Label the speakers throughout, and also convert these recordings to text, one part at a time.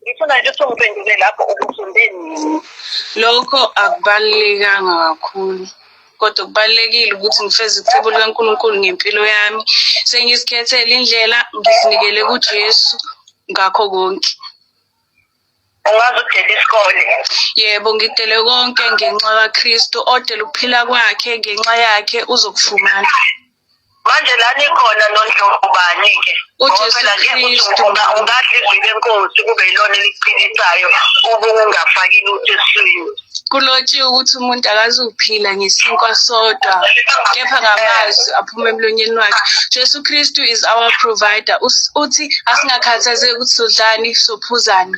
Speaker 1: ngifuna nje usungiphendule lapho ukufunde nini lokho
Speaker 2: akubalulekanga kakhulu kodwa kubalulekile ukuthi ngifeze icebo likaNkulunkulu ngempilo yami sengizikhethele indlela ngizinikele kuJesu ngakho konke
Speaker 1: ungaze udele isikole yebo ngidele
Speaker 2: konke ngenxa kaKristu odela ukuphila kwakhe ngenxa yakhe uzokufumana manje
Speaker 1: la nikhona nondlobani-ke ngoba nje
Speaker 2: ukuthi ungadla izwi
Speaker 1: lenkosi kube yilona eliqinisayo ubungafaki lutho eswini kulotshiwe ukuthi
Speaker 2: umuntu akazuphila ngesinkwa sodwa kepha ngamazwi aphuma emlonyeni wakhe jesu kristu is our provider uthi asingakhathazeki ukuthi sodlani sophuzani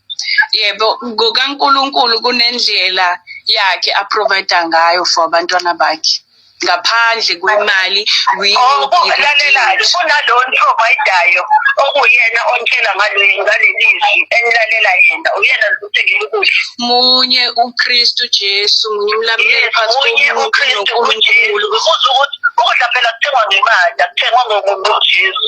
Speaker 1: yebo
Speaker 2: ngokaNkulunkulu kunendlela yakhe aprovide ngayo for abantwana bakhe ngaphandle kwemali okungalalelayo
Speaker 1: kunalo niprovidayo okuyena ontshela ngalelizwi enilalela yena uyena zikuthengela ukudla munye
Speaker 2: ukristu jesu munye umlamuleli phakathi komuntu nonkulunkulu
Speaker 1: ukudla phela kuthengwa ngemali akuthengwa ngomuntu ujesu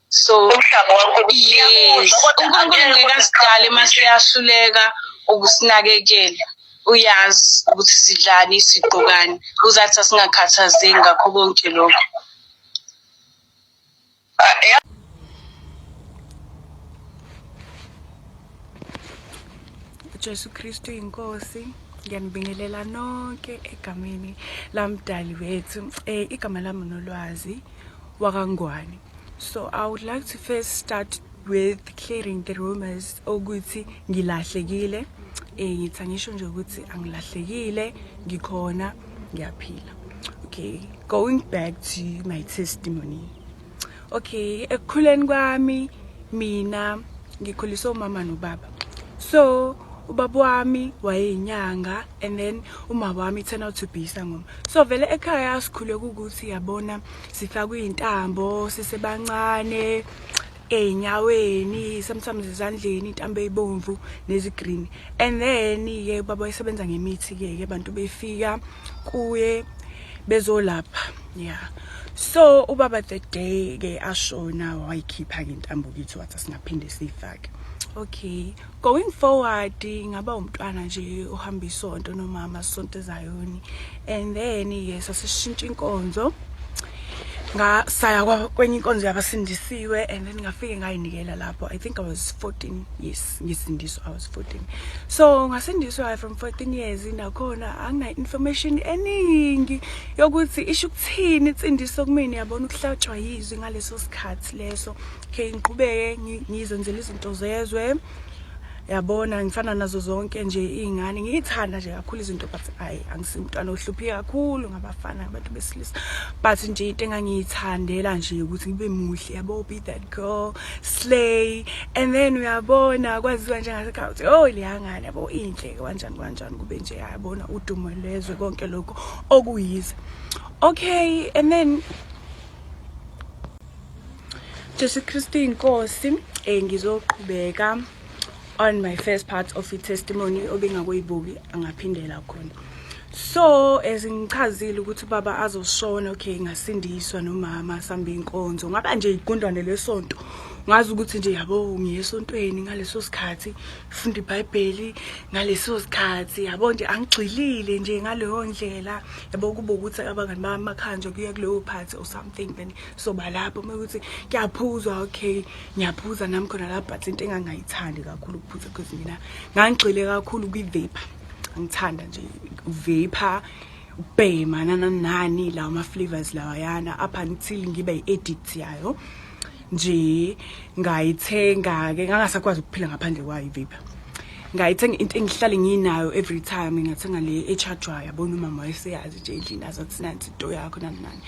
Speaker 2: so umhlaba wankulunkulu yes unkulunkulu ngeke asidale uma siyahluleka ukusinakekela uyazi ukuthi sidlani sigqokani uzathi asingakhathazeki ngakho konke lokho
Speaker 3: Jesu Kristu inkosi ngiyanibingelela nonke egameni lamdali wethu eh igama lami nolwazi wakangwani So I would like to first start with clearing the rumors ukuthi ngilahlekile eh ngithi angisho nje ukuthi angilahlekile ngikhona ngiyaphila okay going back to my testimony okay ekukhuleni kwami mina ngikhuliswe umama nobaba so ubaba wami wayeyinyanga and then umama wami turn out to be isangoma so vele ekhaya sikhule kukuthi yabona sifakwa izintambo sisebancane ezinyaweni sometimes ezandleni intambo eyibomvu nezigreen and then ke baba isebenza ngemithi ke ke abantu befika kuye bezolapha yeah so ubaba the day ke ashona wayikhipha ngentambo kithi wathi singaphinde siyifake okay going forward ngaba umntwana nje ohamba isonto nomama sonto ezayoni and then yes asishintsha inkonzo ngasaya kwenye inkonzo yabasindisiwe and then ngafike ngayinikela lapho i think i was 14 yes ngisindiswa i was 14 so ngasindiswa from 14 years nakhona angina information eningi yokuthi isho ukuthini insindiso kumina yabona ukuhlatshwa yizwi ngaleso sikhathi leso okay ngiqhubeke ngizenzela izinto zezwe yabona ngifana nazo zonke nje iy'ngane ngiyithanda nje kakhulu izinto but ayi angisimntwana ohluphi kakhulu ngabafana ngabantu besilisa but nje into engangiyithandela nje ukuthi ngibe muhle yabo be that girl slay and then uyabona kwaziwa njengasekhaya ukuthi oh liyangane yabo inhle kanjani kanjani kube nje yabona udumo lwezwe konke lokho okuyize okay and then Jesu Kristu inkosi eh ngizoqhubeka on my first part of i-testimony obingakuyibuki angaphindela khona so as ngichazile ukuthi baba azoshona okay ngasindiswa nomama samba inkonzo ngaba nje igundwane lesonto ngazi ukuthi nje yabo ngiyesontweni ngaleso sikhathi funda ibhayibheli ngaleso sikhathi yabo nje angigxilile nje ngaleyo ndlela yabo kube ukuthi abangani bamakhaya nje kuye kuleyo phathi or something then soba lapho uma ukuthi kuyaphuzwa okay ngiyaphuza nami khona lapho but into engangayithandi kakhulu ukuphuza because mina ngangigxile kakhulu kwi-vape angithanda nje uvape ubhema nananani lawa ma-flavors lawayana up until ngibe yi-addict yayo yeah. nje ngayithenga ke ngangasakwazi ukuphila ngaphandle kwayo ivape ngayithenga into engihlale nginayo every time ngathenga le echajwayo yabona umama wayeseyazi nje endlini azathi nansi into yakho nani nani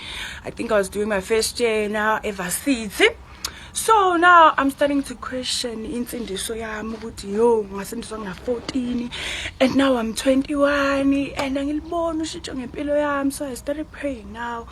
Speaker 3: i think i was doing my first year now ever city so now i'm starting to question insindiso yami ukuthi yo ngasindiswa ngina-14 and now i'm 21 and angiliboni ushintsho ngempilo yami so i started praying now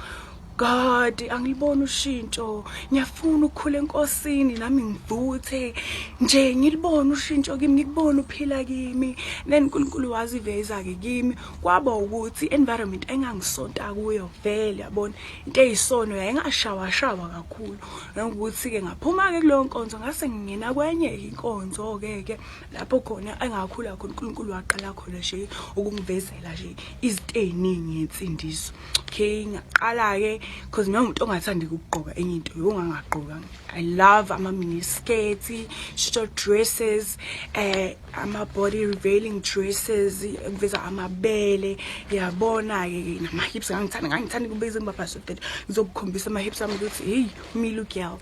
Speaker 3: God angiliboni ushintsho ngiyafuna ukukhula enkosini nami ngivuthe nje ngilibona ushintsho kimi ngikubona uphila kimi then uNkulunkulu waziveza ke kimi kwaba ukuthi environment engangisonta kuyo vele yabona into eyisono yayingashawa shawa kakhulu ngokuthi ke ngaphuma ke kuleyo nkonzo ngase ngingena kwenye inkonzo ke ke lapho khona engakhula khona uNkulunkulu waqala khona nje ukungivezela nje izinto eziningi yensindiso okay ngaqala ke because mina umuntu ongathandi ukugqoka enye into yongangagqoka i love ama mini skirts short dresses eh ama body revealing dresses ngiveza amabele yabona ke nama hips ngangithanda ngangithanda kubeza imbabha so that ngizokukhombisa ama hips ami ukuthi hey me look girl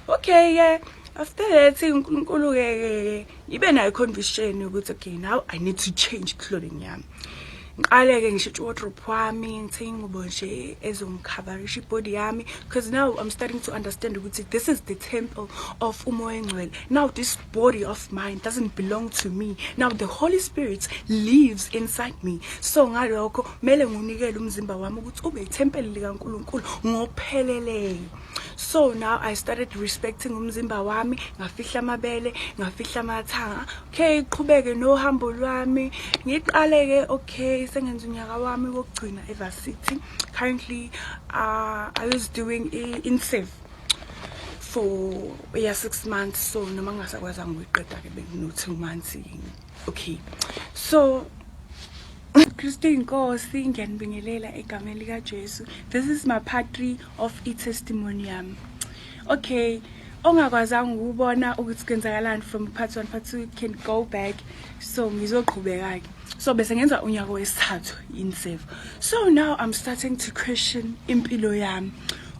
Speaker 3: okay yeah after that unkulunkulu ke ngibe nayo conviction ukuthi okay now i need to change clothing yami ngiqale ke ngishintshe wardrobe wami ngithe ingubo nje ezongikhabarisha ibody yami because now i'm starting to understand ukuthi this is the temple of umoya engcwele now this body of mine doesn't belong to me now the holy spirit lives inside me so ngalokho kumele ngunikele umzimba wami ukuthi ube ithempeli likankulunkulu ngopheleleyo so now i started respecting umzimba wami ngafihla amabele ngafihla amathanga okay iqhubeke nohambo lwami ngiqale-ke okay sengenza unyaka wami wokugcina evarsity currently uh, i was doing i-insafe for eya six months so noma ngingasakwazanga ukuyiqeda-ke bengino-two months okay so kristu inkosi ngiyanibingelela egameni likajesu this is my part three of i testimony yami okay ongakwazanga ukubona ukuthi kwenzakalani from part 1 part 2 can go back so ngizoqhubeka ke so bese ngenza unyaka wesithathu in save so now i'm starting to question impilo yami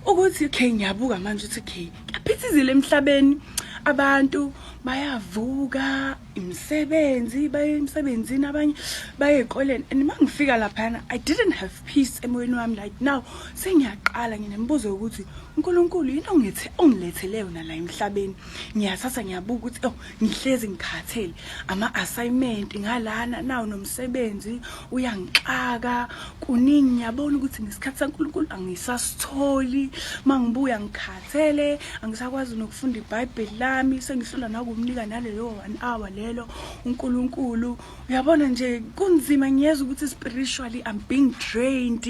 Speaker 3: ukuthi okay ngiyabuka manje ukuthi okay kuyaphithizile emhlabeni abantu bayavuka imisebenzi baye emsebenzini abanye baye ezikoleni and uma ngifika laphana i didn't have peace emoyeni wami like now sengiyaqala nginemibuzo yokuthi unkulunkulu yini ongithi ongilethele yona la emhlabeni ngiyathatha ngiyabuka ukuthi oh ngihlezi ngikhathele ama-assignment ngalana nawo nomsebenzi uyangixaka kuningi ngiyabona ukuthi ngesikhathi sankulunkulu angisasitholi uma ngibuya ngikhala Cele angisakwazi nokufunda iBhayibheli lami sengihlula nakumnika nalelo 1 hour lelo uNkulunkulu uyabona nje kunzima ngiyeza ukuthi spiritually I'm being drained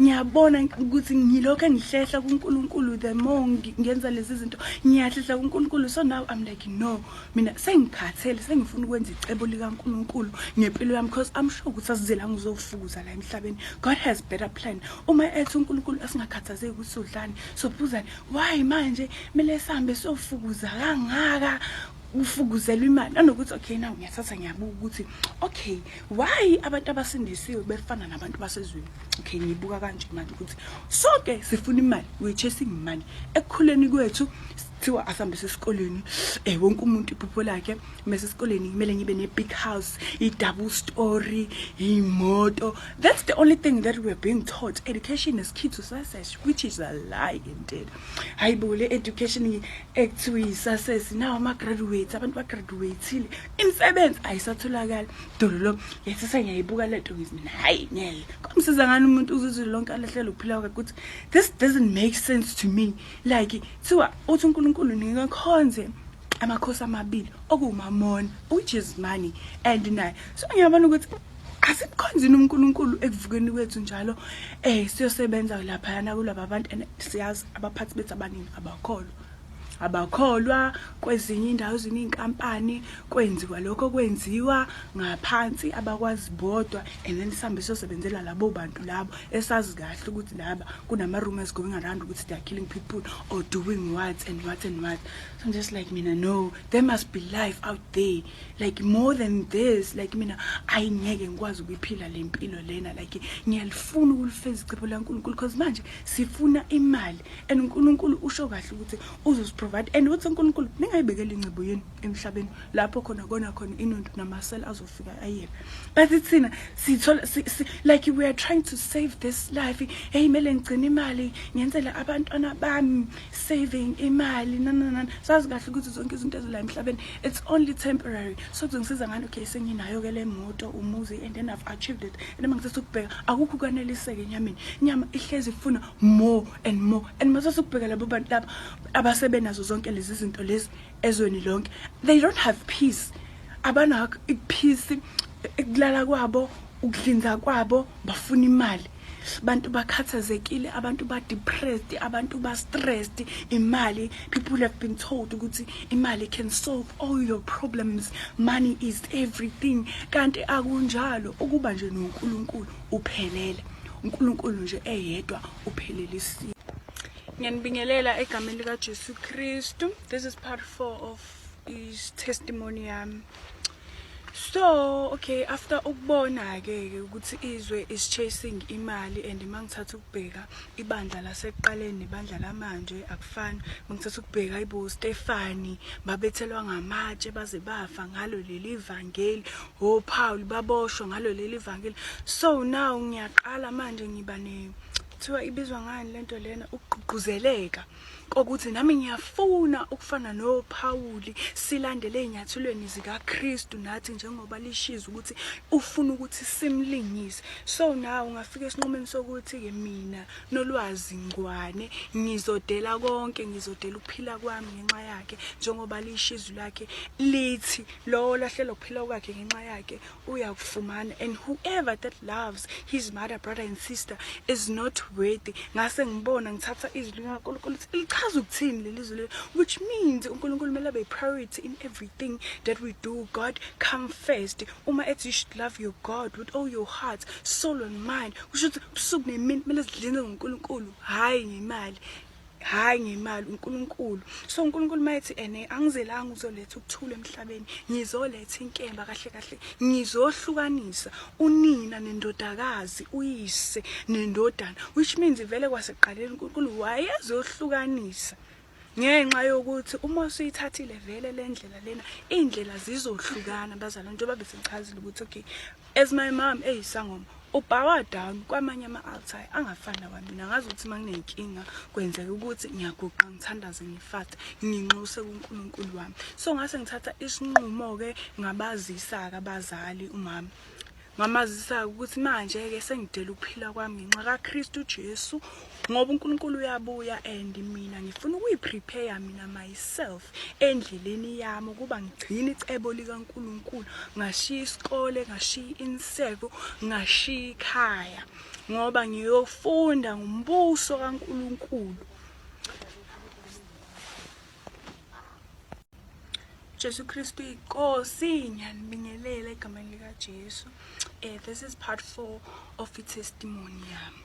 Speaker 3: ngiyabona ukuthi ngilokho engihlehla kuNkulunkulu the more ngenza lezi zinto ngiyahlehla kuNkulunkulu so now I'm like no mina sengikhathele sengifuna ukwenza icebo likaNkulunkulu ngempilo yami because I'm sure ukuthi asizela ngizofuza la emhlabeni God has better plan uma ethi uNkulunkulu asingakhathazeki ukuthi udlani sophuzani why manje kumele sihambe sofukuza kangaka ufukuzelwa imali nanokuthi okay naw ngiyathatha ngiyabuka ukuthi okay why abantu abasindisiwe befana nabantu basezweni okay ngiyibuka kanje manje ukuthi sonke sifuna imali we're chasing money ekukhuleni kwethu kuthiwa asihambise esikoleni um wonke umuntu iphupho lakhe mese esikoleni kumele ngibe ne-big house i-double story iy'moto that's the only thing that we're being taught education is key to success which is a lie indeed hayi bo le education ekuthiwa yi-success nawo ama-graduates abantu bagraduatile imisebenzi ayisatholakali dololo yathi sengiyayibuka le nto ngithi hayi ngeke kwamsiza ngani umuntu uzizwe lonke alahlele ukuphila kwakhe ukuthi this doesn't make sense to me like Kuthiwa uthi uNkulunkulu ngeke khonze amakhosi amabili okuwumamona ujezimani and naye so ngiyabona ukuthi asibukhonzini uNkulunkulu ekuvukeni kwethu njalo eh siyosebenza lapha yana kulabo abantu and siyazi abaphathi bethu abaningi abakholwa abakholwa kwezinye indawo zininkampani kwenziwa lokho kwenziwa ngaphansi abakwazi bodwa and then sihambe sosebenzela labo bantu labo esazi kahle ukuthi laba kunama-rumors going around ukuthi they are killing people or doing what and what and what so i'm just like mina no there must be life out there like more than this like mina ayi ngeke ngikwazi ukuyiphila le mpilo lena like ngiyalifuna ukulifeza icepho lankulunkulu because manje sifuna imali and unkulunkulu usho kahle ukuthi uzosiprovide and uthi unkulunkulu ningayibekela ingcebo yenu emhlabeni lapho khona kona khona inuntu namasela azofika ayena but thina sithola si, si, like we are trying to save this life hey mele ngigcina imali ngenzele abantwana bami saving imali nananana sazi kahle ukuthi zonke izinto ezila emhlabeni it's only temporary so kuzongisiza ngani okay senginayo ke le moto umuzi and then I've achieved it and uma ngithatha ukubheka akukho kwaneliseke enyameni inyama ihlezi ifuna more and more and masase ukubheka labo bantu laba abasebenazo zonke lezi zinto lezi ezweni lonke they don't have peace abanakho ikuphisi ekulala kwabo ukudlinza kwabo bafuna imali abantu bakhathazekile abantu ba depressed abantu ba stressed imali people have been told ukuthi imali can solve all your problems money is everything kanti akunjalo ukuba nje noNkulunkulu uphelele uNkulunkulu nje eyedwa uphelelisa ngiyanibingelela egameni likajesu kristu this is part four of is testimony yami so okay after ukubona-ke ke ukuthi izwe is chasing imali and uma ngithatha ukubheka ibandla lasekuqaleni nebandla lamanje akufani uma ngithatha ukubheka ibo stefani babethelwa ngamatshe baze bafa ngalo leli vangeli ophawuli baboshwa ngalo leli vangeli so now ngiyaqala manje ngiba ne kuthiwa ibizwa ngani lento lena ukugqugquzeleka kokuthi nami ngiyafuna ukufana noPawuli silandele ezinyathulweni zikaKristu nathi njengoba lishiza ukuthi ufuna ukuthi simlingise so nawe ungafika esinqumeni sokuthi ke mina nolwazi ngwane ngizodela konke ngizodela ukuphila kwami ngenxa yakhe njengoba lishizu lakhe lithi lowo lahlelo kuphila kwakhe ngenxa yakhe uyakufumana and whoever that loves his mother brother and sister is not worthy ngase ngibona ngithatha izwi likaNkulunkulu lichaza ukuthini leli zwi leli which means uNkulunkulu kumele abe priority in everything that we do God come first uma ethi you should love your God with all your heart soul and mind kusho ukuthi ubusuku nemini kumele sidlinze ngoNkulunkulu hayi ngemali hayi ngemali uNkulunkulu so uNkulunkulu mayethi ene angizelanga uzoletha ukuthula emhlabeni ngizoletha inkemba kahle kahle ngizohlukanisa unina nendodakazi uyise nendodana which means vele kwaseqaleni uNkulunkulu wayezohlukanisa ngenxa yokuthi uma usuyithathile vele le ndlela lena iy'ndlela zizohlukana bazalwane njengoba besengichazile ukuthi okay As my mom eyisangoma ubhawa down kwamanye ama-altai angafani nawamina ngazi ukuthi uma nginenkinga kwenzeka ukuthi ngiyaguqa ngithandaze ngifate nginxuse kunkulunkulu wami so ngase ngithatha isinqumo-ke ngabazisa-ke abazali umama ngamazisa-ke ukuthi manje-ke sengidela ukuphila kwami ngenxa kakristu jesu ngoba uNkulunkulu uyabuya and mina ngifuna ukuyiprepare mina myself endleleni yami ukuba ngigcine icebo likaNkulunkulu ngashiya isikole ngashiya inseko ngashiya ikhaya ngoba ngiyofunda ngumbuso kaNkulunkulu Jesu Kristu iNkosi ngiyanibingelela egameni lika Jesu eh this is part 4 of i testimony yami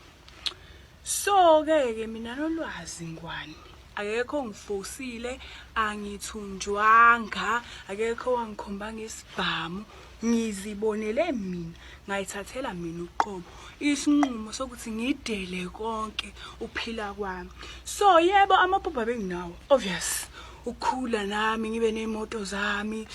Speaker 3: so ke ke mina nolwazi ngwani akekho ngifosile angithunjwanga akekho wangikhombanga isibhamu ngizibonele mina ngayithathela mina uqobo isinqumo sokuthi ngidele konke uphila kwami so yebo amaphupha benginawo obvious ukukhula nami ngibe ney'moto zami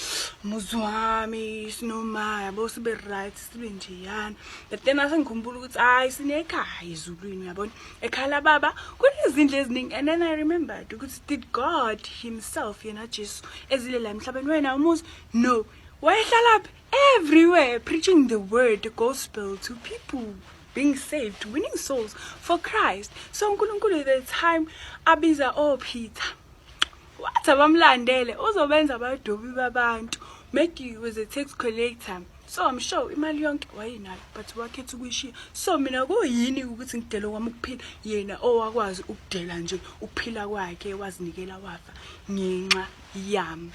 Speaker 3: muzi wami sinomaya bo sibe right sibe njeyana but then asengikhumbula ukuthi hayi sinekhaya ezulwini uyabona ekhala baba kunezindlu eziningi and then i remembered ukuthi did god himself yena jesu ezile la emhlabeni wena umuzi no wayehlalaphi everywhere preaching the word the gospel to people being saved winning souls for christ so unkulunkulu the time abiza opeter oh, Wathi abamlandele uzobenza abadobi babantu. Maggie was a tax collector. So I'm sure imali yonke wayenayo but wakhetha ukuyishiya. So mina kuyini ukuthi ngidele kwami ukuphila yena owakwazi ukudela nje ukuphila kwakhe wazinikela wafa ngenxa yami.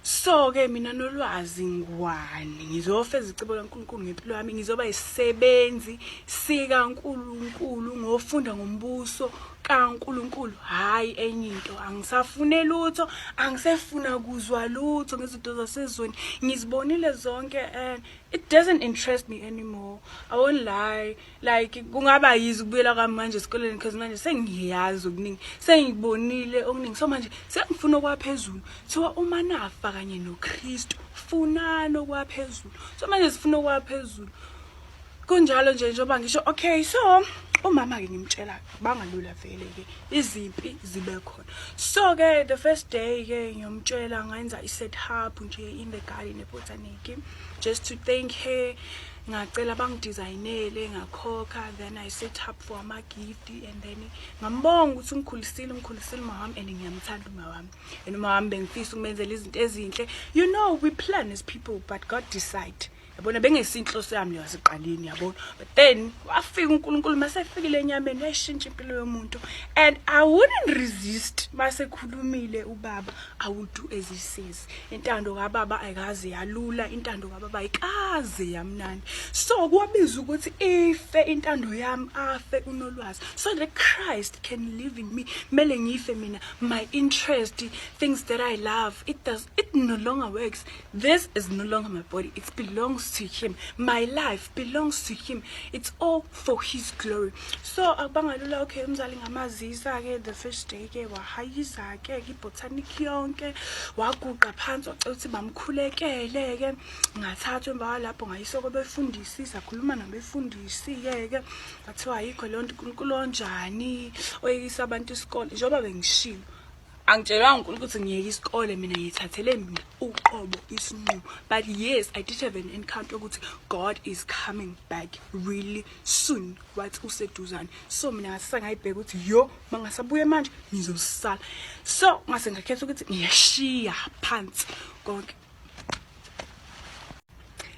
Speaker 3: so ke mina nolwazi ngwani ngizofeza icebo laNkulunkulu ngempilo yami ngizoba isisebenzi sika Nkulunkulu ngofunda ngombuso kaNkulunkulu hayi enye into angisafune lutho angisefuna kuzwa lutho ngezinto zasezweni ngizibonile zonke and it doesn't interest me anymore i won't lie like kungaba yizi ukubuyela kwami manje esikoleni because manje sengiyazi okuningi sengibonile okuningi so manje sengifuna okwaphezulu thiwa uma nafa kanye nokristu funani okwaphezulu so manje sifuna okwaphezulu kunjalo nje njengoba ngisho okay so umama-ke ngimtshela bangalula vele-ke izimpi zibe khona so-ke the first day-ke ngiyomtshela ngenza i-set up nje in the garden ebhotaniki just to thank her ngacela bangidizayinele ngakhokha then i set up for amagifti and then ngambonga ukuthi ungikhulisile ungikhulisile uma wami and ngiyamthanda uma wami and uma wami bengifisa ukumenzela izinto ezinhle you know we plan as people but god decide yabona bengesinhloso yami leyo siqaleni yabona but then wafika uNkulunkulu masefikile enyameni yayishintsha impilo yomuntu and i wouldn't resist masekhulumile ubaba i would do as he says intando kababa ayikaze yalula intando kababa ayikaze yamnandi so kuwabiza ukuthi ife intando yami afe unolwazi so the christ can live in me mele ngife mina my interest things that i love it does it no longer works this is no longer my body it belongs to him my life belongs to him it's all for his glory so akubangalula okay umzali ngamazisa-ke the first day-ke wahayizake ke ibotanic yonke waguqa phansi wacela ukuthi bamkhulekele-ke ngathathwa emva kwalapho ngayiswa kwabefundisi sakhuluma nabefundisi-ke-ke ngathiwa ayikho leyo nto unkulunkulu onjani oyekisa abantu isikole njengoba bengishilo angitshelanga unkulunkulu ukuthi ngiyeke isikole mina ngiyithathele mina uqobo isinqumo but yes i did have an encounter ukuthi god is coming back really soon wathi useduzane so mina ngase sangayibheka ukuthi yo uma ngasabuye manje ngizosala so ngase ngakhetha ukuthi ngiyashiya phansi konke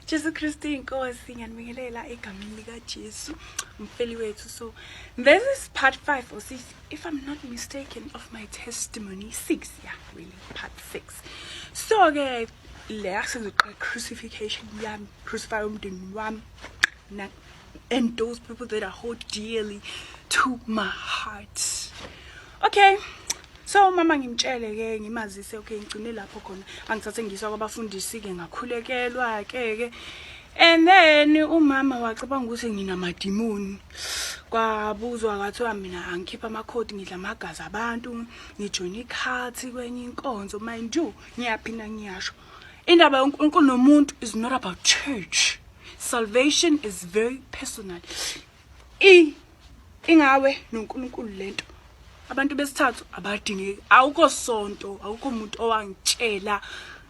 Speaker 3: Jesu Kristu inkosi ngiyanibingelela egameni lika Jesu umfeli wethu so this is part 5 or 6 if I'm not mistaken of my testimony 6 yeah really part 6 so ke la sengizoqala crucification yami crucify umndeni wami and those people that I hold dearly to my heart. Okay. so mama ngimtshele ke ngimazise okay ngigcine lapho khona angithathe ngiyiswa kwabafundisi ke ngakhulekelwa ke ke and then umama wacabanga ukuthi nginamadimoni kwabuzwa kwathiwa mina angikhipha amakhodi ngidla amagazi abantu ngijoyina ikhathi kwenye inkonzo mind you ngiyaphinda ngiyasho Indaba yoNkulunkulu nomuntu is not about church. Salvation is very personal. I ingawe noNkulunkulu lento. Abantu besithathu abadingeki. Awukho sonto, awukho umuntu owangitshela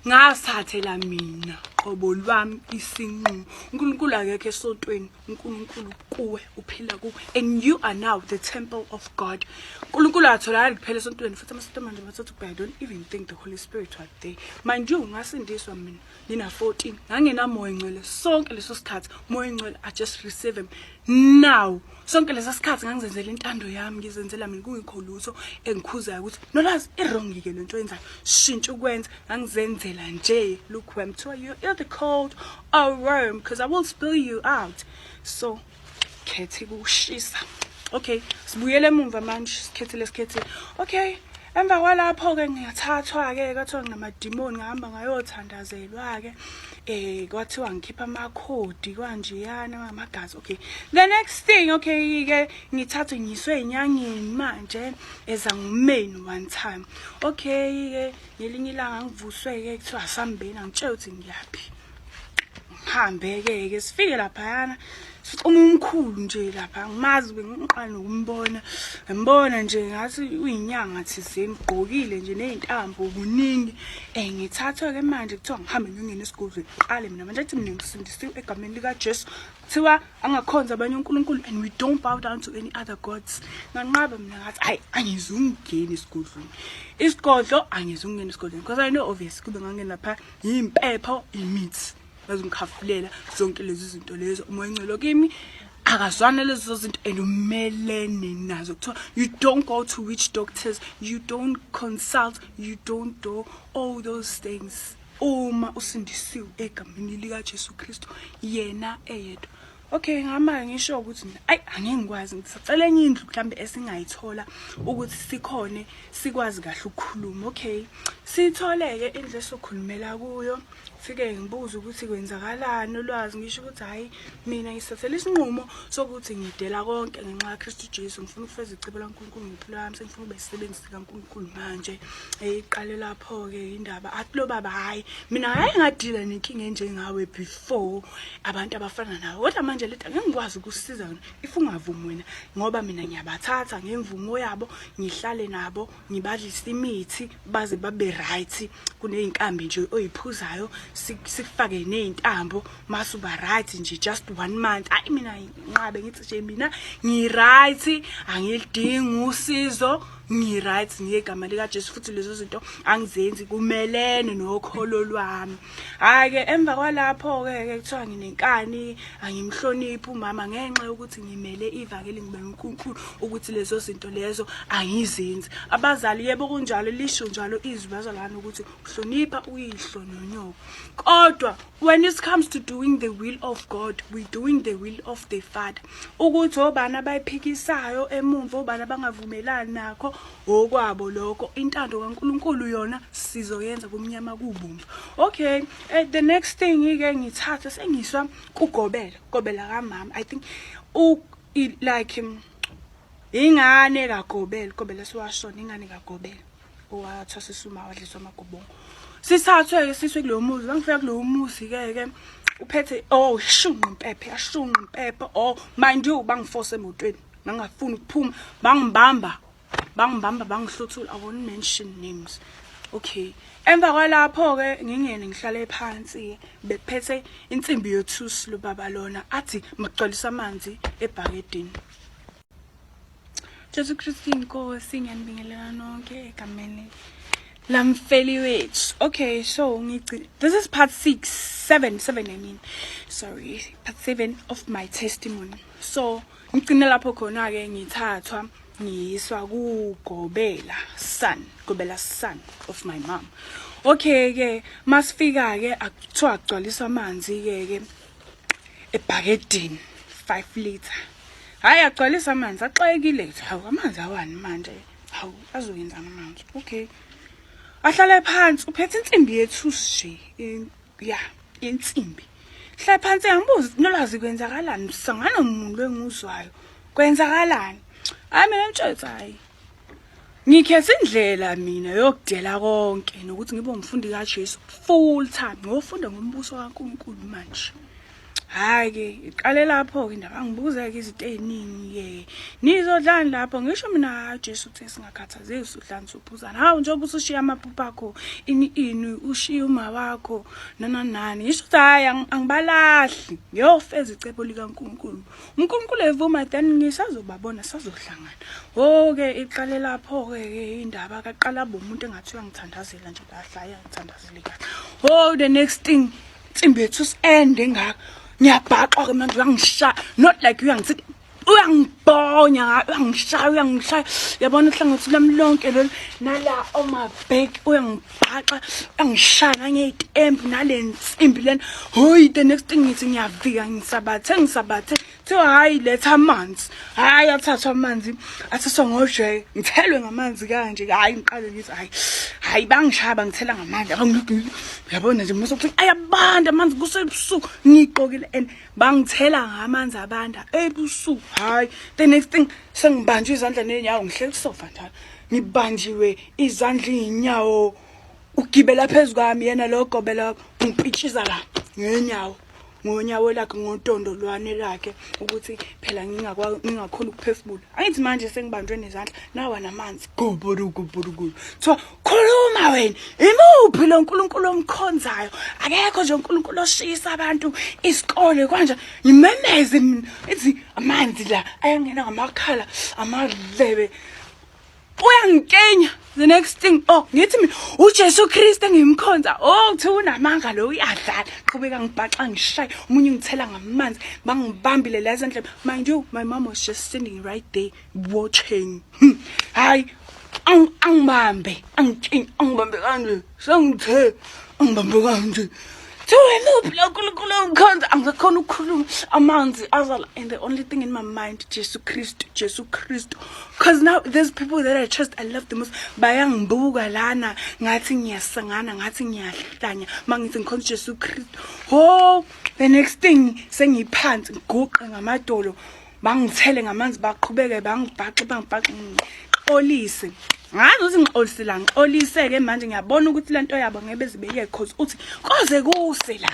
Speaker 3: ngasathe la mina qobo lwami isinqumo uNkulunkulu akekho esontweni uNkulunkulu kuwe uphila kuwe and you are now the temple of God uNkulunkulu atholakala kuphela esontweni futhi amasonto manje bathatha ubheka don't even think the Holy Spirit was there mind you ngasindiswa mina nina 14 ngangenamoya ngcwele sonke leso sikhathi moya ngcwele i just receive him now sonke lesa sikhathi ngangizenzela intando yami ngizenzela mina kungikho lutho engikhuzayo ukuthi nolazi irongike lento yenzayo shintsha ukwenza ngangizenzela nje look wem kuthiwa you're the cold I'll worm because I will spill you out. So, khethi kushisa. Okay, sibuyele emumva manje sikhethi lesikhethi. Okay. Emva kwalapho ke ngiyathathwa ke kwathiwa nginamadimoni ngihamba ngayothandazelwa ke eh kwathiwa ngikhipha amakhodi kwanjeyana ngamagazi okay the next thing okay ke ngithathwe ngiswe inyangeni manje eza ngumeni one time okay ke ngelinye ilanga ngivuswe-ke kuthiwa asambeni angitshela ukuthi ngiyaphi ngihambe-ke-ke sifike laphayana uma umkhulu nje lapha ngimazi bengiqala nokumbona ngimbona nje ngathi uyinyanga thizeni ugqokile nje ney'ntambo kuningi um eh, ngithathwe-ke manje kuthiwa ngihambe ngiyongena esigodlweni qale mina manje athi mina ngisindisiwe egameni likajesu kuthiwa angakhonza abanye unkulunkulu and we don't bow down to any other gods nganqaba mina ngathi hayi angize ungeni esigodlweni isigodlo angize ungeni esigodlweni because i know obvious kube ngangena pha yimpepho imithi bazongikhafulela zonke lezi zinto lezo umoya ongcelo kimi akazwane lezo zinto and umelene nazo kuthiwa you don't go to witch doctors you don't consult you don't do all those things Uma usindisiwe egameni likaJesu Kristu yena eyedwa. Okay, ngama ngisho ukuthi mina ayi angeke ngikwazi ngisacela enye indlu mhlambe esingayithola ukuthi sikhone sikwazi kahle ukukhuluma. Okay. Sithole ke indlu esokhulumela kuyo. Fike ngibuze ukuthi kwenzakalani ulwazi ngisho ukuthi hayi mina ngisathela isinqumo sokuthi ngidela konke ngenxa kaKristu Jesu ngifuna ukufeza icebo laNkulunkulu ngempilo yami sengifuna ube sisebenzi kaNkulunkulu manje eyiqale lapho ke indaba athi lo baba hayi mina hayi ngadila nenkinga enjengawe before abantu abafana nawe kodwa manje leta ngeke ngikwazi ukusiza wena if ungavumi wena ngoba mina ngiyabathatha ngemvumo yabo ngihlale nabo ngibadlise imithi baze babe right kuneyinkambi nje oyiphuzayo sikufake nezintambo mase uba right nje just one month ayi mina nqabe ngithi nje mina ngi-right angilidingi usizo ngi-right ngegama likajesu futhi lezo zinto angizenzi kumelene nokholo lwami hhayi-ke emva kwalapho-ke ke kuthiwa nginenkani angimhloniphi umama ngenxa yokuthi ngimele ivangeli ngimele unkulunkulu ukuthi lezo zinto lezo angizenzi abazali yebo kunjalo lisho njalo izwi bazalwane ukuthi hlonipha uyihlo nonyoko kodwa when it comes to doing the will of god we doing the will of the father ukuthi obani abayiphikisayo emumva obani abangavumelani nakho okwabo lokho intando kankulunkulu yona sizoyenza kumnyama kubumva okay uh, the next thing ke ngithatha sengiswa kugobela gobela kamama i think u like ingane kagobela gobela siwashona ingane kagobela owathwasisa uma wadliswa amagobongo sithathwe-ke siswe kulowo muzi bangifika kulowo muzi-ke ke uphethe oh shunqa impephe yashunqa impephe oh mind you bangiforce emotweni ngangafuni ukuphuma bangibamba bangibamba bangihluthula i won't mention names okay emva kwalapho-ke ngingene ngihlale phansi-ke bephethe insimbi yothusi lobaba lona athi makugcwalisa amanzi ebhakedini Jesu Kristu inkosi ngiyanibingelela nonke egameni lamfeli wethu okay so ngici this is part 6 7 7 i mean sorry part 7 of my testimony so ngigcine lapho khona ke ngithathwa ngiyiswa kugobela son gobela son of my mom okay ke masifika ke akuthiwa agcwaliswa amanzi ke ke ebhakedini 5 liter hayi agcwalisa amanzi axakekile kuthi hawu amanzi awani manje hawu azoyenzana manje okay ahlale phansi uphethe insimbi yethu nje ya insimbi hlale phansi angibuzi nolwazi kwenzakalani sangano muntu enguzwayo kwenzakalani hayi mina mtshetsa hayi Ngikhetha indlela mina yokudela konke nokuthi ngibe umfundi kaJesu full time ngiyofunda ngombuso kaNkulunkulu manje. Hayi ke iqale lapho ke indaba ngibuza ke izinto eziningi ke. Nizodlani lapho ngisho mina Jesu uthe singakhathazeki sudlani sophuzana. Hawu njengoba usushiya amaphupho akho ini ini ushiya uma wakho nana nani. Ngisho ukuthi hayi angibalahli ngiyofeza icebo likaNkulunkulu. uNkulunkulu evuma then ngisazobabona sazohlangana oke iqale lapho ke indaba kaqala bomuntu engathiwa ngithandazela nje bahlaya ngithandazele kahle oh the next thing tsimbethu send engaka ngiyabhaxwa ke manje uyangisha not like uyangithi uyangibonya uyangishaya uyangishaya yabona uhlangothi lami lonke lolu nala omabheki uyangibonya angibhaxa angishaya ngeyitembu nale nsimbi lena hoyi the next thing ngithi ngiyavika ngisabathe ngisabathe kuthiwa hhayi letha amanzi hhayi athathwa amanzi athathwa ngojeke ngithelwe ngamanzi kanje hhayi ngiqale ngithi hhayi hhayi bangishaya bangithela ngamanzi yabona nje musa ukuthi ayabanda amanzi kusebusuku ngiyigqokile and bangithela ngamanzi abanda ebusuku hhayi the next thing sengibanjwe izandla ney'nyawo ngihleli kusofa njalo ngibanjiwe izandla iy'nyawo ugibela phezu kwami yena lo gobela ngipitshiza la ngenyawo ngonyawo lakhe ngotondo lwane lakhe ukuthi phela ngingakhona ukuphefumula angithi manje sengibanjwe nezandla nawa namanzi gobodogobodogolo kuthiwa khuluma wena imuphi lo nkulunkulu omkhonzayo akekho nje unkulunkulu oshisa abantu isikole kwanje ngimemeze mina ithi amanzi la ayangena ngamakhala amadlebe uyangikenya the next thing oh ngithi mina uJesu Kristu engimkhonza oh kuthiwa unamanga lo uyadlala qhubeka ngibhaxa ngishaye umunye ngithela ngamanzi bangibambile la ezandleni mind you my mom was just standing right there watching hmm. hayi angibambe angibambe kanje sengithe angibambe kanje angakhona ukukhuluma amanzi azala and the only thing in my mind jesu kristu jesu kristu because now there's people that i trust i love the most bayangibuka lana ngathi ngiyasangana ngathi ngiyahlanya ma ngithi ngikhonza ujesu kristu ho the next thing sengiphansi ngiguqe ngamadolo bangithele ngamanzi baqhubeke bangibhaxe bangibhaxe ngixolise ngazi ukuthi ngixolise la ngixoliseke manje ngiyabona ukuthi lento yabo ngebe zibeyeke cause uthi koze kuse la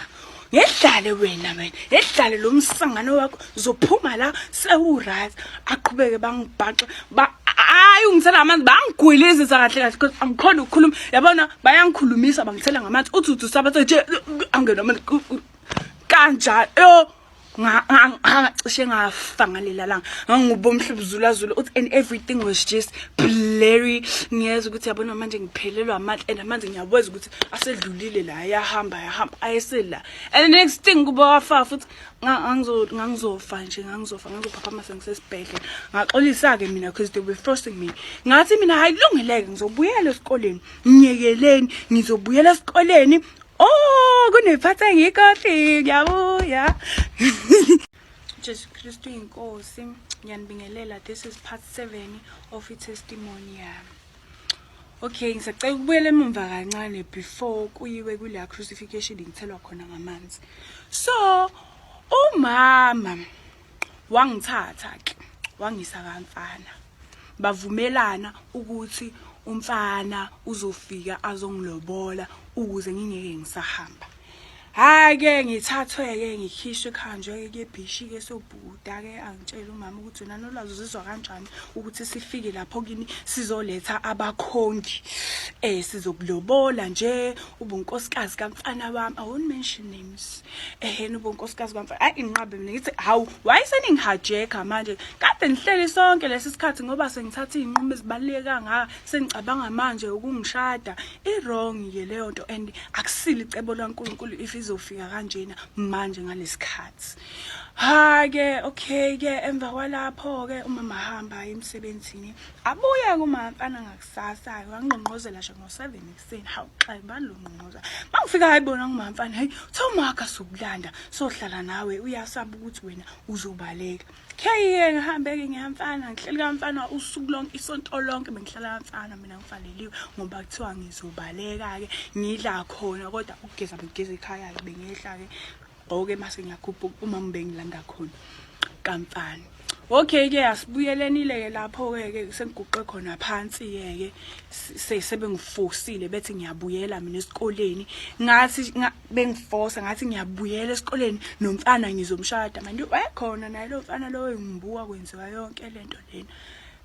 Speaker 3: ngedlale wena wena ngedlale lo msangano wakho zophuma la sewuright aqhubeke bangibhaxe ba hayi ungithela amanzi bangigwilizisa kahle kahle because angikhona ukukhuluma yabona bayangikhulumisa bangithela ngamanzi uthi uthi sabathe nje angena amanzi kanjalo cishe ngafa ngalela langa ngangiwuba umhlubuzulazula uthi and everything was just blurry ngiyeza ukuthi yabona manje ngiphelelwa amandla and manje ngiyabweza ukuthi asedlulile la ayahamba ayahamba ayesela and the next thing kuba wafa futhi ngangizofa nje ngangizofa ngangizophaphama sengisesibhedlela ngaxolisa-ke mina because they were forcing me ngathi mina hayi kulungileke ngizobuyela esikoleni ngiyekeleni ngizobuyela esikoleni Oh, kunephathi engikhohli ngiyabuya. Jesu Kristu inkosi ngiyanibingelela this is part 7 of i testimony yami. Okay ngisacela ukubuyela emumva kancane before kuyiwe kule crucifixion ngithelwa khona ngamanzi. So umama wangithatha ke wangisa kamfana bavumelana ukuthi umfana uzofika azongilobola ukuze ngingeke ngisahamba hayi ke ngithathwe ke ngikhishwe khanjwe ke bhishi ke sobhuda ke angitshela umama ukuthi wena nolwazi uzizwa kanjani ukuthi sifike lapho kini sizoletha abakhongi eh sizokulobola nje ubunkosikazi kamfana wami awuni mention name eheni bo nkosikazi kamfa ayi inqabe mina ngithi hawu wayeseningihajeka manje kade ngihleli sonke lesi sikhathi ngoba sengithatha izinqumo ezibaluleke kangaka sengicabanga manje ukungishada i-wrong ye leyo nto and akusile icebo likankulunkulu if izofika kanjena manje ngalesikhathi hake okay ke emva kwalapho ke umama hamba emsebenzini abuye kumamfana ngakusasa wangqongqozela nje ngo-7 Sini hawu xa ibani lo ngqongqoza. Mangifika hayi bona ngumamfana hayi thomaka sokulanda sohlala nawe uyasaba ukuthi wena uzobaleka. Kheyeke ngihambeke ngiyamfana ngihleli kamfana usuku lonke isonto lonke bengihlala kamfana mina ngifaneliwe ngoba kuthiwa ngizobaleka ke ngidla khona kodwa ukugeza bengigeza ekhaya bengehla ke oke mase ngiyakhuphuka uma ngibengilanda khona kamfana okay ke asibuyelenile ke lapho ke ke sengiguqe khona phansi ke ke sebengifosile bethi ngiyabuyela mina esikoleni ngathi bengifosa ngathi ngiyabuyela esikoleni nomfana ngizomshada manje wayekhona naye lo mfana lo engibuka kwenziwa yonke lento lena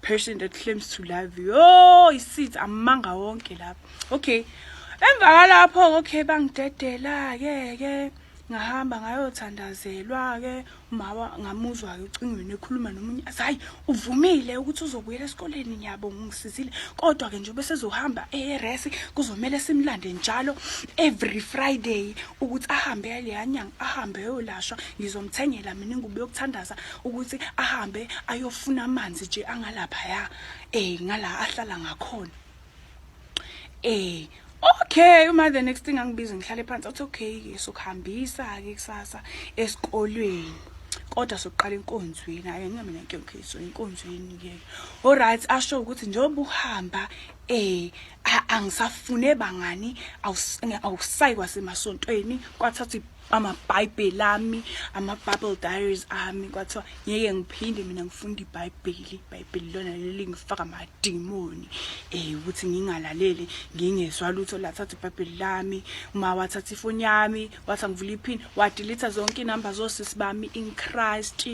Speaker 3: person that claims to love you oh isithi amanga wonke lapho okay emva kwalapho okay bangidedela ke ke ngahamba ngayothandazelwa ke umama ngamuzwa ke ucingweni ekhuluma nomunye athi hayi uvumile ukuthi uzobuyela esikoleni ngiyabo ngisizile kodwa ke njengoba sezohamba eRS kuzomela simlande njalo every friday ukuthi ahambe leya nyanga ahambe yolashwa ngizomthengela mina ingubo yokuthandaza ukuthi ahambe ayofuna amanzi nje angalapha ya eh ngala ahlala ngakhona Eh okay uma the next thing angibize ngihlale phansi athi okay ke sokuhambisa ke kusasa esikolweni kodwa sokuqala inkonzweni hayi ngeke mina nkyonkiso inkonzweni ke all right asho ukuthi njengoba uhamba eh angisafune bangani awusayi kwasemasontweni kwathatha amabhayibheli ami ama-bible diaries ami kwathiwa ngeke ngiphinde mina ngifunda ibhayibheli ibhayibheli lona leli ngifaka amadimoni um eh, ukuthi ngingalaleli ngingezwa lutho lathatha ibhayibheli lami uma wathatha ifoni yami wathi angivula iphini wadilitha zonke inamba zosisi bami in christ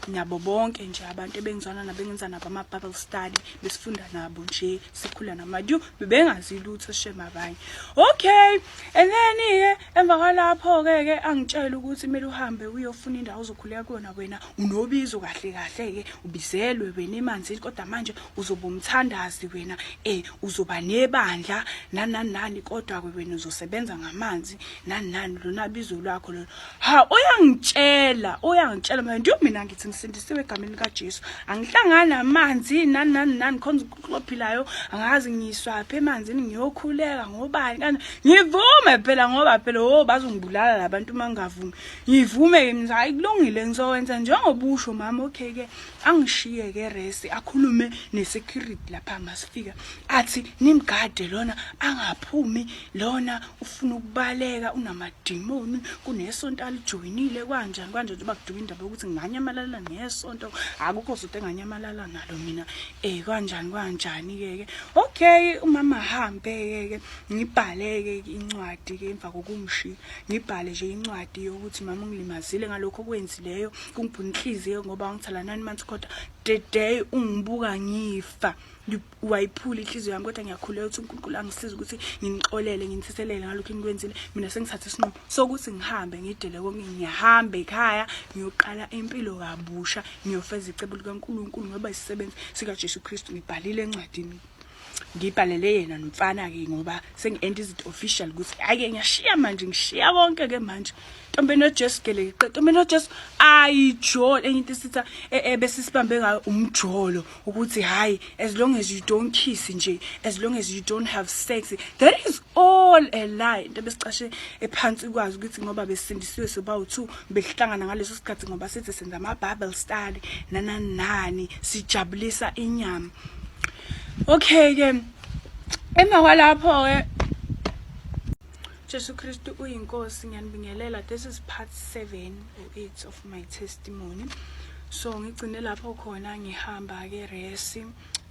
Speaker 3: nabo bonke nje abantu ebengizwana nabo engenza nabo ama-bible study besifunda nabo nje sikhula namadu bebengazi lutho shem abanye okay and then-ke emva kwalapho-ke ke angitshele ukuthi kumele uhambe uyofuna indawo ozokhuleka kuyona wena unobizo kahle kahle-ke ubizelwe wena emanzini kodwa manje uzoba umthandazi wena um uzoba nebandla nanani nani kodwa-ke wena uzosebenza ngamanzi nani nani lona bizo lwakho lona Ha uyangitshela uyangitshela manje ndio mina ngithi ngisindisiwe egameni lika Jesu angihlangani namanzi nani nani nani khona uqophilayo angazi ngiswa phe emanzini ngiyokhuleka ngobani kanti ngivume phela ngoba phela ho oh, bazongibulala labantu mangavumi ngivume mina hayi kulungile ngizowenza njengoba usho mama okay ke angishiye ke resi akhulume nesecurity lapha masifika athi nimgade lona angaphumi lona ufuna ukubaleka unamadimoni kunesonto alijoyinile kwanjani kwanje nje bakuduka indaba yokuthi nganyamalala nesonto akukho sonto enganyamalala nalo mina eh kanjani kanjani ke ke okay umama hambe ke ke ngibhaleke incwadi ke emva kokumshiya ngibhale nje incwadi yokuthi mama ungilimazile ngalokho okwenzileyo kungibhuna inhliziyo ngoba ngithela nine months kodwa the day ungibuka ngifa wayiphula inhliziyo yami kodwa ngiyakhuleka ukuthi uNkulunkulu angisize ukuthi nginixolele nginitheselele ngalokho enikwenzile mina sengithathe isinqumo sokuthi ngihambe ngidele konke ngihambe ekhaya ngiyoqala impilo kabusha ngiyofeza icebo likaNkulunkulu ngoba isisebenzi sikaJesu Kristu ngibhalile encwadini ngibhalele yena nomfana ke ngoba sengi-end izinto official ukuthi hhayi-ke ngiyashiya manje ngishiya konke ke manje ntombi enojesu gelekeqe ntombi enojesu ayijolo enye into esitha e, e, besisibambe ngayo umjolo ukuthi hhayi as long as you don't kiss nje as long as you don't have sex that is all a lie into besicashe ephansi kwazi ukuthi ngoba besindisiwe sobawu-two besihlangana ngaleso sikhathi ngoba sithi senza ama-bible study nanani nani sijabulisa inyama okay-ke emva kwalapho-ke Jesu Kristu uyinkosi ngiyanibingelela this is part 7 or 8 of my testimony so ngigcine lapho khona ngihamba ke resi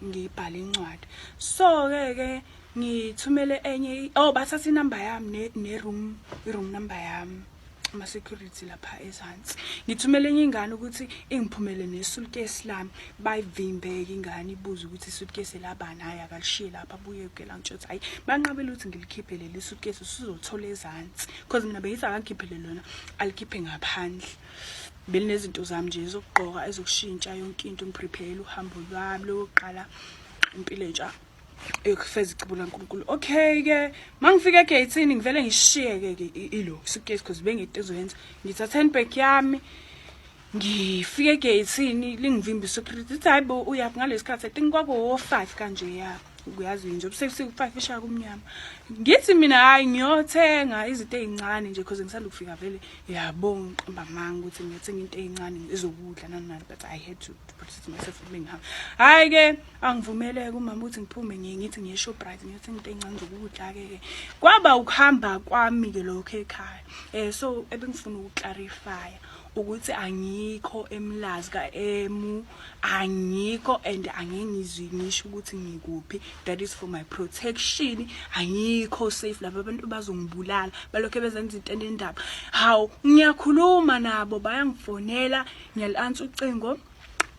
Speaker 3: ngibhala incwadi so ke ke ngithumele enye oh bathatha inamba yami ne room i room number yami ama-security lapha ezansi ngithumele enye ingane ukuthi ingiphumele nesuitcase lami bayivimbe-ke ingane ibuze ukuthi isuitcase elabani hhayi akalishiye lapha abuye kela ngitsho ukuthi hhayi banqabele ukuthi ngilikhiphe leli suitcase usuzothola ezansi because mina bengithi akangikhiphele lona alikhiphe ngaphandle belinezinto zami nje ezokugqoka ezokushintsha yonke into ngiprepare uhambo lwami lokuqala impilo entsha eyokufeza icebo lankulunkulu okay ke uma ngifika egeyithini ngivele ngishiyeke ke ilo suitcase because bengiyinto ezoyenza ngithatha handbag yami ngifike egeyithini lingivimba isecurity ithi hayi bo uyaphi ngalesi khathi i think kwakuwo-five kanje ya uyazi nje ubusebusuku five ishaya kumnyama ngithi mina hhayi ngiyothenga izinto ey'ncane nje because ngisanda ukufika vele yabo ngiqamba amanga ukuthi ngiyothenga into ey'ncane ezokudla nanani but i had to, to protect myself kube ngihamba hhayi-ke angivumeleke umama ukuthi ngiphume ngiye ngithi ngiye Shoprite ngiyothi into encane zokudla-ke ke kwaba ukuhamba kwami-ke lokho ekhaya um so ebengifuna ukuclarifya ukuthi angikho emlazi ka-emu angikho and angengizwi ngisho ukuthi ngikuphi that is for my protection angikho safe laba abantu bazongibulala balokhu bezenza into enendaba hawu ngiyakhuluma nabo bayangifonela ngiyali-ansa ucingo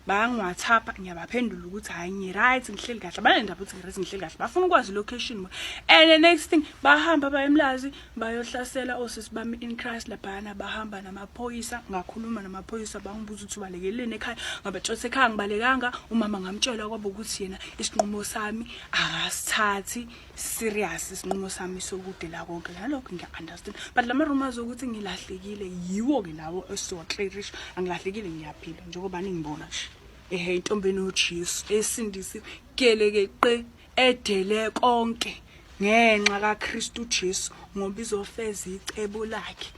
Speaker 3: bayangiwhatsapp ngiyabaphendula ukuthi hhayi ngi-right ngihleli kahle abanendaba ukuthi ngi-right ngihleli kahle bafuna ukwazi location and the next thing bahamba bayemlazi bayohlasela osisi bami in christ laphayana bahamba namaphoyisa ngakhuluma namaphoyisa bangibuza ukuthi ubalekeleni ekhaya ngabatshotha ekhaya ngibalekanga umama ngamtshela kwaba ukuthi yena isinqumo sami akasithathi serious isinqumo sami sokudela konke nalokho ngiya-understand but la ma-rumors okuthi ngilahlekile yiwo-ke lawo esiwaclarish angilahlekile ngiyaphila njengoba ningibona nje ehe intombi enojesu esindisi keleke qe edele konke ngenxa kakristu jesu ngoba izofeza icebo lakhe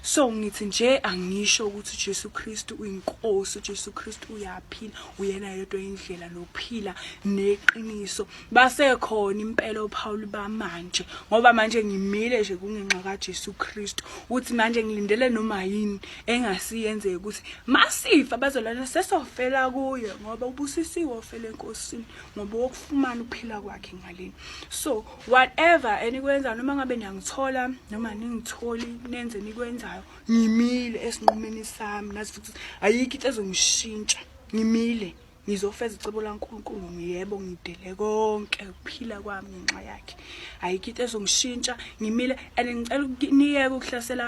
Speaker 3: so ngithi nje angisho ukuthi uJesu Kristu uyinkosi uJesu Kristu uyaphila uyena yedwa indlela nophila neqiniso basekhona impela oPaul bamanje ngoba manje ngimile nje kungenxa kaJesu Kristu uthi manje ngilindele noma yini engasiyenzeka ukuthi masifa bazolana sesofela kuye ngoba ubusisiwe ofela enkosini ngoba wokufumana uphila kwakhe ngaleni so whatever enikwenza noma ngabe niyangithola noma ningitholi nenze nikwenzayo ngimile esinqumeni sami nazi futhi ayikho into ezongishintsha ngimile ngizofeza icebo laNkulunkulu ngiyebo ngidele konke ukuphila kwami ngenxa yakhe ayikho into ezongishintsha ngimile and ngicela ukuniyeka ukuhlasela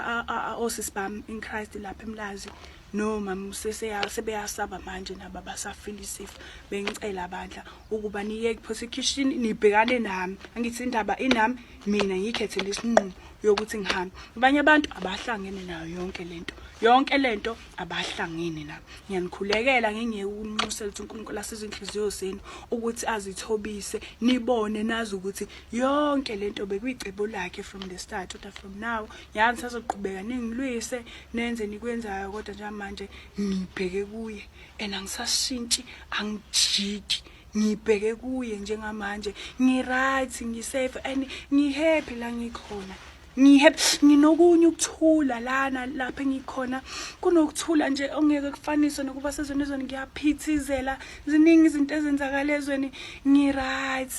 Speaker 3: osisi bami in Christ lapha emlazi No mama useseya sebeyasaba manje nabo abasafila isifo bengicela bandla ukuba niyeke phose ekhishini nibhekane nami angithi indaba inami mina ngikhethe lesinqumo yokuthi ngihambe abanye abantu abahlangene nayo yonke lento yonke lento abahlangene na ngiyanikhulekela ngingeke ukunxusela ukuthi uNkulunkulu asize inhliziyo zenu ukuthi azithobise nibone nazi ukuthi yonke lento bekuyicebo lakhe from the start uthi from now yazi ngisazoqhubeka ningilwise nenze nikwenzayo kodwa njengamanje ngibheke kuye and angisashintshi angijiki ngibheke kuye njengamanje ngi-right ngi-safe and ngi-happy la ngikhona ngihappy nginokunye ukuthula lana lapha engikhona kunokuthula nje ongeke kufaniswe nokuba sezweni ezweni ngiyaphithizela ziningi izinto ezenzakala ezweni ngi-right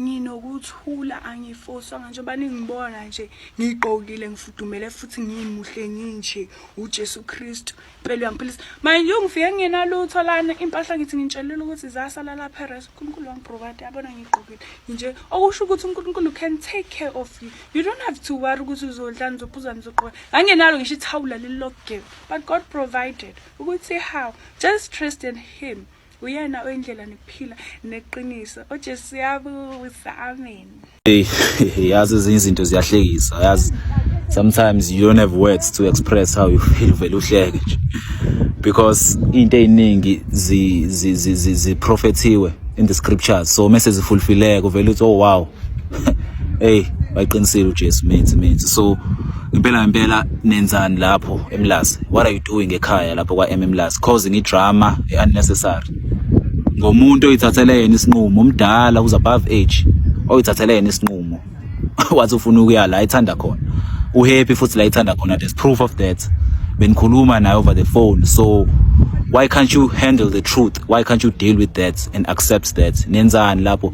Speaker 3: Nginokuthula angifoswanga njengoba ningibona nje ngigqokile ngifudumele futhi ngimuhle nginje uJesu Kristu impela uyangiphilisa manje ungifike ngingenalutho lana impahla ngithi ngitshelile ukuthi zasala lapha eres uNkulunkulu wangiprovide yabona ngigqokile nje okusho ukuthi uNkulunkulu can take care of you you don't have to worry ukuthi uzodla nizophuza nizogqoka ngangenalo ngisho ithawula lililokugeba but God provided ukuthi how just trust in him uyena oyindlela nekuphila neqiniso ojesu uyabusa amen
Speaker 4: yazi ezinye izinto ziyahlekisa yazi sometimes you don't have words to express how you feel vele uhleke nje because into eziningi zi zi zi zi prophethiwe in the scriptures so mese zifulfileke vele uthi oh wow hey baqinisile uJesu mithi mithi so impela impela nenzani lapho eMlazi what are you doing ekhaya lapho kwa MMlazi causing idrama unnecessary ngomuntu oyithathele yena isinqumo umdala uza above age oyithathele yena isinqumo wathi ufuna ukuya la ithanda khona uhappy futhi la ithanda khona there's proof of that benikhuluma naye over the phone so why can't you handle the truth why can't you deal with that and accept that nenzani lapho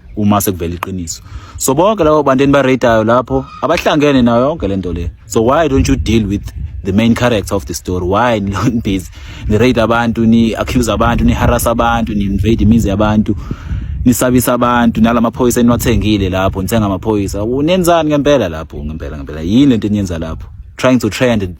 Speaker 4: uma sekuvela iqiniso so bonke labo bantu enibaratayo lapho abahlangene nayo yonke le nto le so why don't you deal with the main character of the story why nibhizi nirate abantu ni-accuse abantu ni-harasa abantu ni-invade imizi yabantu nisabisa abantu nala maphoyisa eniwathengile lapho nithenga amaphoyisa unenzani ngempela lapho ngempela ngempela yini lento eniyenza lapho trying to trend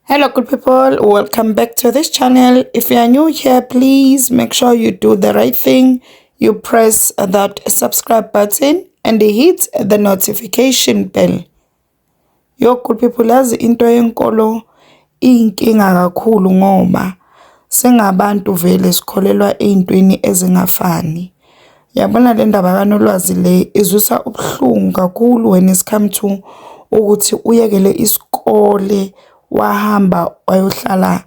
Speaker 4: Hello
Speaker 5: good people, welcome back to this channel. If you are new here, please make sure you do the right thing. You press that subscribe button and hit the notification bell. Yo good people, yazi into yenkolo iyinkinga kakhulu ngoba singabantu vele sikholelwa ey'ntweni ezingafani Yabona le ndaba kaNolwazi le izwisa ubuhlungu kakhulu when it's come to ukuthi uyekele isikole wahamba wayohlala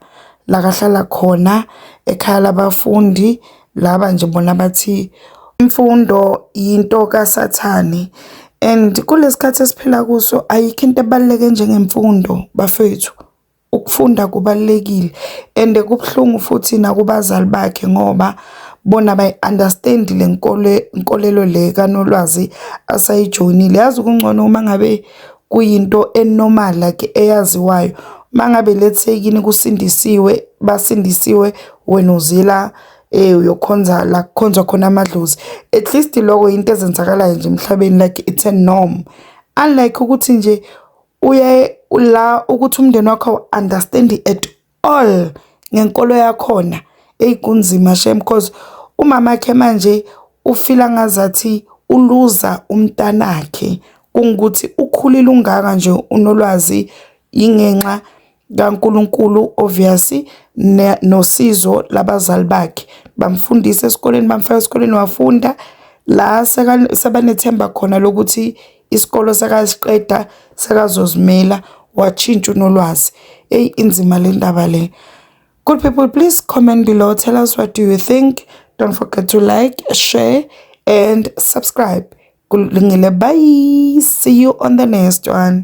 Speaker 5: la kahlala khona ekhaya labafundi, laba nje bona bathi imfundo yinto kasathane and kulesi khathi esiphila kuso ayikho into ebaluleke njengemfundo bafethu. Ukufunda kubalulekile and kubuhlungu futhi nakubazali bakhe ngoba bona bayi-understand le nkole nkolelo le kaNolwazi asayijoyinile. Yazi kungcono uma ngabe kuyinto enormal like eyaziwayo. Uma ngabe let's say kini kusindisiwe basindisiwe wena uzila eh uyokhonza la kukhonzwa khona amadlozi. At least lokho yinto ezenzakalayo nje emhlabeni like it's a norm. Unlike ukuthi nje uye la ukuthi umndeni wakho understand at all ngenkolo yakhona eyi kunzima shem cause umama khe manje ufila ngazathi uluza umntanakhe kungukuthi ukhulile ungaka nje unolwazi ingenxa kaNkulunkulu obvious nosizo labazali bakhe bamfundisa esikoleni bamfaka esikoleni wafunda la sebanethemba khona lokuthi isikolo sekasiqeda sekazozimela watshintsha unolwazi eyi inzima le ndaba le good people please comment below tell us what do you think don't forget to like share and subscribe kulungile bye see you on the next one